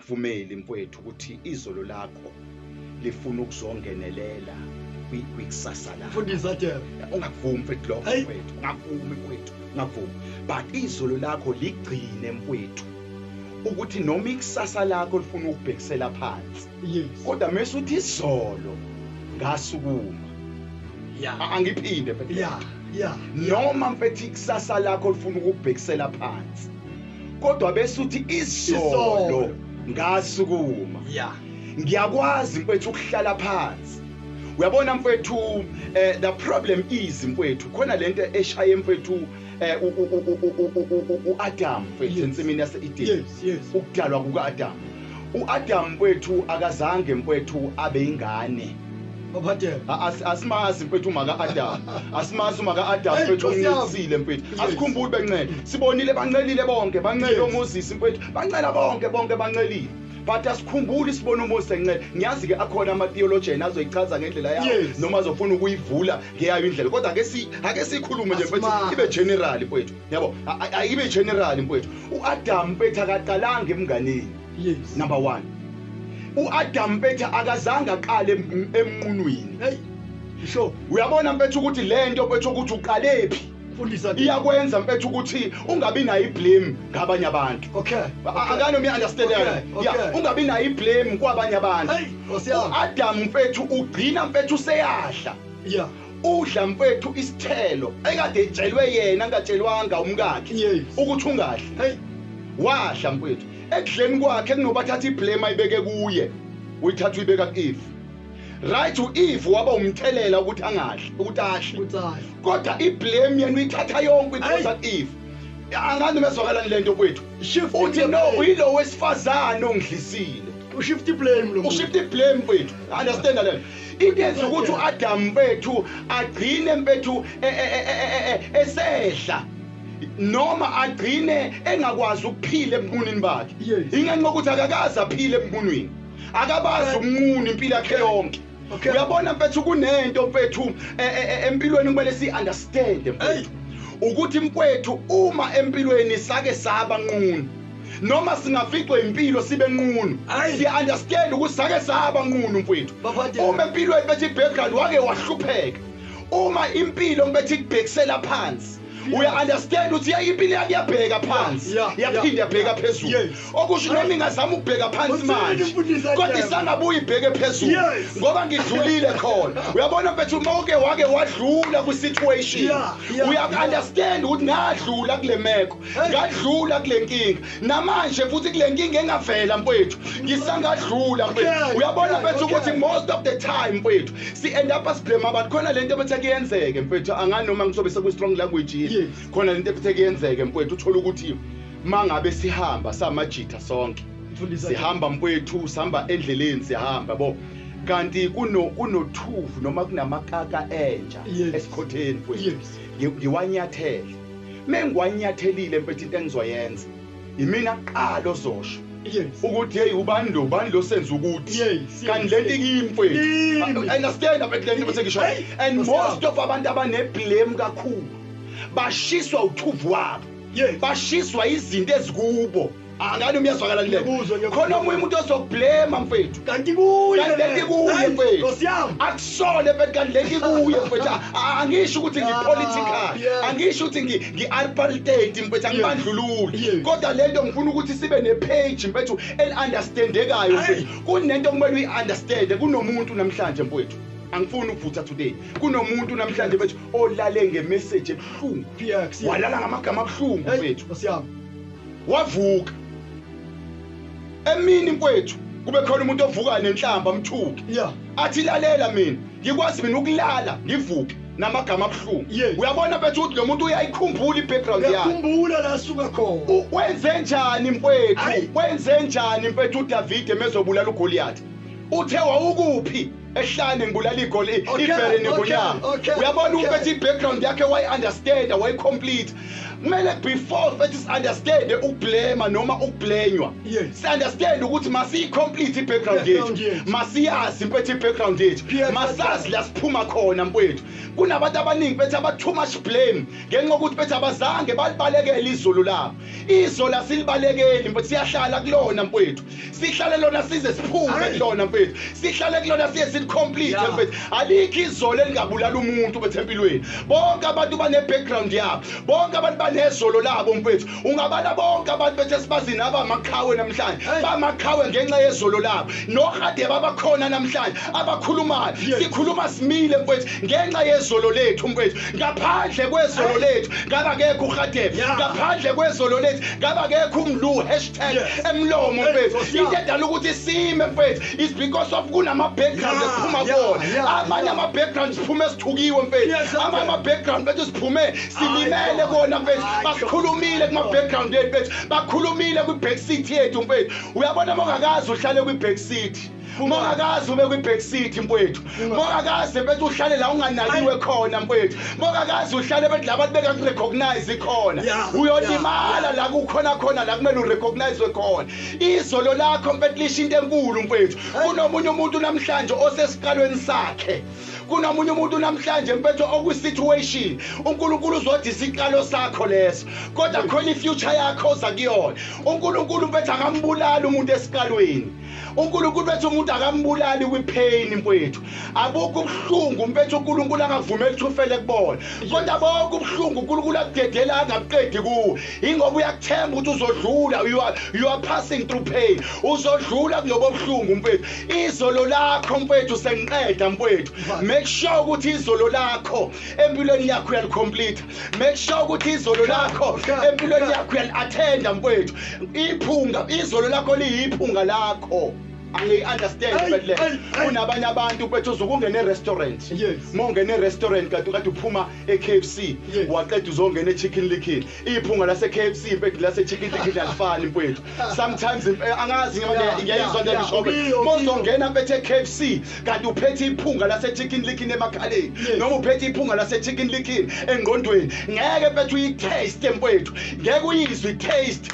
Vumeli mfwethu ukuthi izolo lakho lifuna ukuzongenelela kwikusasa lakho. Mfundisi Adela. Ungakuvumi mfethu lokho mfethu. Ungakuvumi mfethu. Ungakuvumi. But izolo lakho ligcine mfethu. ukuthi noma ikusasa lakho lifuna ukubhekisela phansi yes kodwa mase uthi izolo ngasukuma yeah angiphinde mfethu yeah yeah noma mfethu ikusasa lakho lifuna ukubhekisela phansi kodwa bese uthi izolo ngasukuma ya ngiyakwazi mfethu ukuhlala phansi uyabona mfethu um the problem is mfethu khona lento eshaye mfethu um eh, u-adam mfethu ensimini yase-edeni ukudalwa kuka-adam U-Adam mfwethu akazange mfwethu abe ingane. Baphathele. A- as- Asimazi mfethu umaka Adam. Asimazi umaka Adam Hey, mfethu Nkosi yami. umncelisile mfethu. Yes. Asikhumbuli bencela. Sibonile bancelile bonke, bancele Yes. uMoses mfethu. Bancela bonke bonke bancelile. But asikhumbuli sibona uMoses encela. Ngiyazi ke akhona ama theologian azoyichaza ngendlela yawo Yes. noma azofuna ukuyivula ngeyayo indlela. Kodwa ake si ake sikhulume nje mfethu Asimazi. ibe general mfethu. yabo ayibe general mfowethu uAdam betha akaqalanga emnganeni yes number 1 uAdam betha akazange aqale emnqunwini hey sho uyabona mfethu ukuthi lento mfethu ukuthi uqalephi fundisa iyakwenza mfethu ukuthi ungabi nayo iblame ngabanye abantu okay akane uya understand yeah ungabi nayo iblame kwabanye abantu uAdam mfethu ugcina mfethu seyadla yeah udla mfethu isithelo ekade etshelwe yena angatshelwanga umkakhe Yes. ukuthi ungadli Hey, wadla mfethu ekudleni kwakhe kunoba athatha iblame ayibeke kuye uyithatha uyibeka ku-eve right u-eve waba umthelela ukuthi angadli ukuthi ahle utsala. kodwa iblame yena uyithatha yonke uyiphosa ku-eve angani bezwakalani le nto kwethu Shift uthi no iblame. uyilo wesifazane ongidlisile Ushift iblame lo. muntu. ushifta iblame kwethu understanda lento into yenza ukuthi uAdam mfethu agcine mfethu e, e, e, esehla noma agcine engakwaz ukuphila ebunini bakhe ingenxa ukuthi akakazi aphile ebunini akabazi umunquni impilo yakhe yonke uyabona mfethu kunento mfethu empilweni kumele si understand mfethu ukuthi mfethu uma empilweni sake saba nquni noma singaficwa impilo sibe nqunu siya understand ukuthi sake saba nqunu mfowethu uma empilweni bethi background wake wahlupheka uma impilo ngibethi kubhekisela phansi uya understand ukuthi yayi impilo yami yabheka phansi yaphinde yabheka phezulu okusho noma ingazama ukubheka phansi manje kodwa isangabuye ibheke phezulu ngoba ngidlulile khona uyabona mfethu uma uke wake wadlula kwi-situation uya-understand ukuthi ngadlula kule meko ngadlula kule nkinga namanje futhi kule nkinga engavela mfowethu ngisangadlula mfowethu uyabona mfethu ukuthi most of the time mfowethu si-end up asiblame abantu khona le nto ebethe kuyenzeke mfowethu angani noma ngisobe sekwi-strong language yini khona le nto ebethe kuyenzeke mfowethu uthole ukuthi ma ngabe sihamba samajitha sonke sihamba mfowethu sihamba endleleni sihamba bo kanti kuno kunothuvu noma kunamakaka entsha esikhotheni mfowethu ngiwanyathele mengwanyathelile mpethe into engizoyenza yimina kuqala ozosho ukuthi hey ubani lo ubani lo senza ukuthi kanti lento ikimfethu understand abethu lento bese ngisho and most of abantu abaneblame kakhulu bashiswa uthuvu wabo bashiswa izinto ezikubo angani umyazwakala lile Ngiyakuzwa, ngiyakuzwa. khona omunye umuntu ozoblema mfethu kanti kuye kanti lento ikuye Hayi, mfethu Nkosi yami akusone mfethu kanti lento ikuye mfethu A- a- angisho ukuthi ngipolitical Ah, yes. angisho ukuthi ngi- ngi-alpartate mfethu angibandlululi Yes. kodwa lento ngifuna ukuthi sibe nepage mfethu eli-understandekayo Ayi. mfethu kunento okumele uyi-understande kunomuntu namhlanje mfethu angifuni ukuvutha today kunomuntu namhlanje mfethu olale ngemeseji ebuhlungu px walala ngamagama abuhlungu mfethu Nkosi yami wavuka emini mfowethu kube khona umuntu ovuka nenhlamba amthuke yeah. athi lalela mina ngikwazi mina ukulala ngivuke namagama abuhlungu yeah. uyabona bethu ukuthi lo muntu uyayikhumbula i-background yakhumbula la suka khona wenze njani mfowethu wenze njani mfowethu udavide mezobulala ugoliyathi uthe wawukuphi ehlane ngibulala igoli ibhere nengonyama uyabona ukuthi i-background yakhe wayi-understanda wayi-complete kumele before fethi si-understande ukublema noma ukublenywa si-understande ukuthi masiyi-complete i-background yethu masiyazi mfethu i-background yethu masazi la siphuma khona mfowethu kunabantu abaningi bethi aba-too much blame ngenxa yokuthi bethi abazange balibalekele izolo labo izolo asilibalekeli mfethu siyahlala kulona mfowethu sihlale lona size siphume kulona mfethu sihlale kulona siye silicomplete mfethu alikho izolo elingabulala umuntu mfethu empilweni bonke abantu bane-background yabo bonke abantu banezolo labo mfethu ungabala bonke abantu bethu esibazi nabo amaqhawe namhlanje bamaqhawe ngenxa yezolo labo nohadeba abakhona namhlanje abakhulumayo sikhuluma simile mfethu ngenxa yezolo lethu mfethu ngaphandle kwezolo lethu ngaba kekho uhadeba ngaphandle kwezolo lethu ngaba kekho umlu cele emlomo mfethu into edala ukuthi sime mfethu is because of kunama-background ephuma kona amanye ama-background siphume sithukiwe mfethu amanye ama-background bethu siphume silimele kona mfethu basikhulumile kuma-background ethu bethu bakhulumile kwi-back city yethu mfethu uyabona uma ungakazi uhlale kwi-back city uma ungakaze ube kwi-back city mfowethu uma ungakaze bethi uhlale la unganakiwe khona mfowethu uma ungakaze uhlale bethi labantu bekakurecognize khona uyolimala la kukhona khona la kumele urecognizwe khona izolo lakho mfethu lisho into enkulu mfowethu kunomunye umuntu namhlanje osesiqalweni sakhe kunomunye umuntu namhlanje mpetho okwisituation uNkulunkulu uzothi isiqalo sakho leso kodwa khona ifuture yakho oza kuyona uNkulunkulu mpetho akambulali umuntu esiqalweni uNkulunkulu bethi umuntu akambulali kwipheyini mfowethu abukho ubuhlungu mfethu uNkulunkulu angavumeli ukuthi ufele kubona kodwa bonke ubuhlungu uNkulunkulu akudedela angabuqedi kuwo ingoba uyakuthemba ukuthi uzodlula you are, you are passing through pain uzodlula kulobo buhlungu mfowethu izolo lakho mfowethu sengiqeda mfowethu make sure ukuthi izolo lakho empilweni yakho uyalicomplete make sure ukuthi izolo lakho empilweni yakho uyali-athenda mfowethu iphunga izolo lakho liyiphunga lakho angiyi-understand but le kunabanye abantu bethu uzokungena e-restaurant ma ungena e-restaurant kanti kade uphuma e-k f c waqeda uzongena e-chicken likin iphunga lase-k f c mfethu lase-chicken likin alifani mfowethu sometimes eh, angazi ngiyayizwa nje ngishoke mozongena bethe KFC kanti uphethe iphunga lase chicken likin emakhaleni noma uphethe iphunga lase chicken likin engqondweni ngeke bethu uyitaste mfowethu ngeke uyizwe taste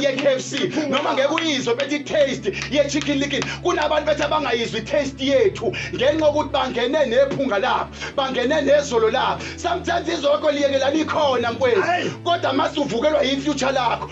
ye KFC noma ngeke uyizwe bethi taste ye chicken likin kunabantu bethu abangayizwi taste yethu ngenxa ukuthi bangene nephunga lapho bangene nezolo lapho sometimes izoko liyekelana ikhona mfowethu kodwa mase uvukelwa yi future lakho